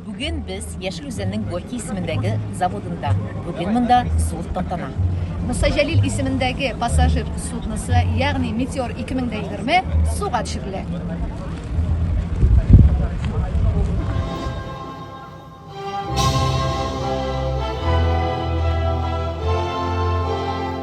Бүген без Яшел Үзәннең Горький исемендәге заводында. Бүген монда зур тантана. Муса Җәлил исемендәге пассажир судносы, ягъни Метеор 2020 суга төшерелә.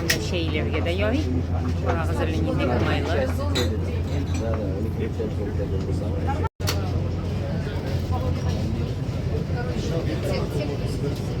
Менә чәйләргә дә ярый. Карагыз әле нинди уңайлы. Thank you.